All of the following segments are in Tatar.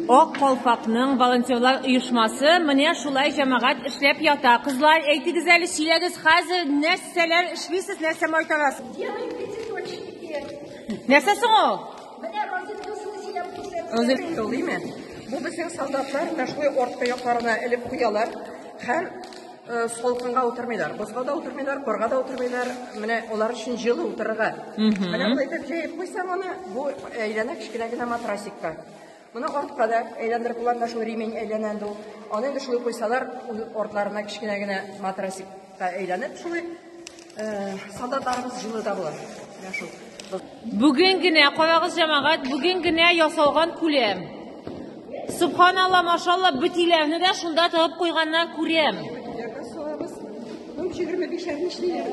Ак калфакның волонтерлар оешмасы менә шулай җәмәгать эшләп ята. Кызлар, әйтегез әле, сөйләгез, хәзер нәрсәләр эшлисез, нәрсә майтарасыз? Делаем пятиточки теперь. Нәрсә соң ул? Менә розеткасын сөйләп күрсәтсен. Розетка тулыймы? Бу безнең солдатлар менә шулай арт аякларына элеп куялар һәм э, салкынга утырмыйлар. Бозга да утырмыйлар, корга да утырмыйлар. Менә алар өчен җылы утырырга. Менә болай итеп җәеп куйсаң аны, бу әйләнә кечкенә генә матрасикка. Моны артка да әйләндереп була, менә шул ремень әйләнә инде ул. Аны инде шулай куйсалар, артларына кечкенә генә матрасикка әйләнеп шулай э, солдатларыбыз җылы да була. Менә шул. Бүген генә, карагыз җәмәгать, бүген генә ясалган күләм. Субханалла, машалла, бөтиләрне дә шунда тыгып куйганнар күрәм. Бөтиләргә салабыз. 25 әр нишлиләр.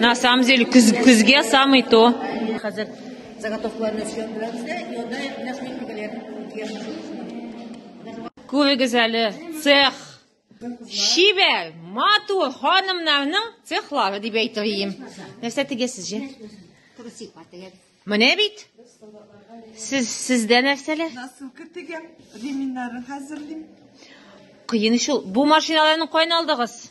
На самом деле, күз, күзгә самый то. Хәзер заготовкаларны эшләп беләбез дә, и анда наш мехникалар Күрегез әле, цех. Шибәр, матур ханымнарның цехлары дип әйтер идем. Нәрсә тегесез же? Трусик бар тегәбез. Менә бит. Сез сездә нәрсәләр? Насылка тегәм, реминнарын хәзерлим. Кыен шул. Бу машиналарны кайналдыгыз?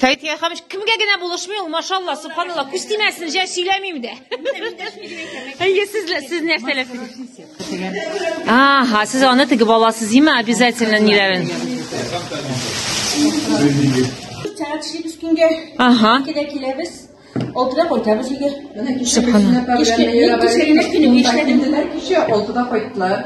Тәйтгә хамыш кемгә генә булышмый ул, машалла, субханалла, күз тимәсен, җә сөйләмим дә. Әйе, сез сез нәрсә ләфис? Ага, сез аны теге баласы зима обязательно ниләрен. Чара төшеп үскәнгә. Ага. Килә киләбез. Алтыда кайтабыз егер. Менә кичә алтыда кайттылар.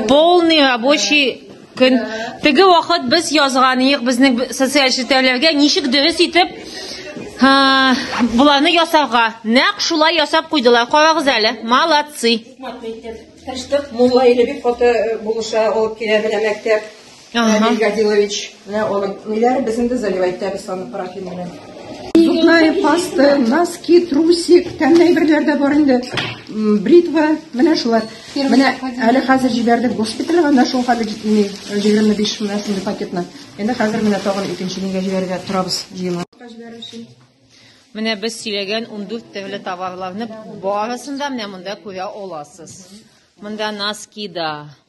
Полный рабочий көн. Теге вакыт без язган идек безнең социаль челтәрләргә ничек дөрес итеп Буланы ясарга. Нәк шулай ясап куйдылар. Карагыз әле. Молодцы. Тәштәк мулла иле бик каты булыша алып килә белә мәктәп. Ага. Гадилович, менә аның ниләр без инде заливать итәбез аны парафин белән. Зубная паста, носки, трусик, тәмле әйберләр дә бар инде. Бритва, менә шулар. Менә әле хәзер җибәрдек госпитальгә, менә шул хәле җитми 25 меңнән сумлы пакетны. Инде хәзер менә тагын икенче нигә җибәрергә торабыз җыелма. Менә без сөйләгән 14 төрле товарларны барысын да менә монда күрә аласыз. Монда носки да,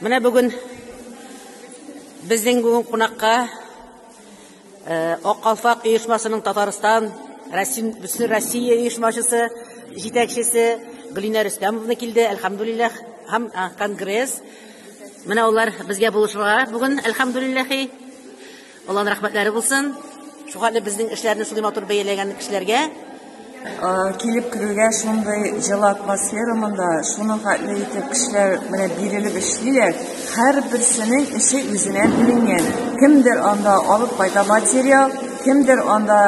Менә бүген безнең бүген кунакка э, Ак калфак оешмасының Татарстан Россия Россия оешмачысы җитәкчесе Гөлинә Рөстәмовна килде. Әлхәмдулиллах һәм конгресс. Менә алар безгә булышырга бүген, әлхәмдулиллахи. Алланың рәхмәтләре булсын. Шугали безнең эшләрне шундый матур бәяләгән кешеләргә. Килеп керүгә шундый җылы атмосфера монда, шуның хәтле итеп кешеләр менә бирелеп эшлиләр. Һәрберсенең эше үзенә бүленгән. Кемдер анда алып кайта материал, кемдер анда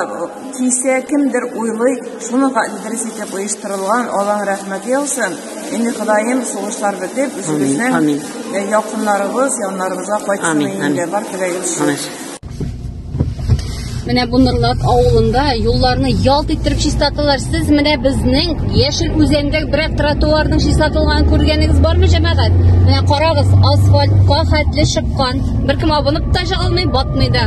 кисә, кемдер уйлый. Шуның хәтле дөрес итеп оештырылган, Алланың рәхмәте яусын. Инде Ходаем сугышлар бетеп, үзебезнең э, якыннарыбыз, яннарыбызга кайтсын инде. Бар теләгем шул. Менә бу Нырлат авылында юлларны ялт иттереп чистарталар. Сез менә безнең Яшел үзәндә берәк тротуарның чистартылганын күргәнегез бармы, җәмәгать? Менә карагыз, асфальтка хәтле чыккан. Беркем абынып та чыга алмый, батмый да.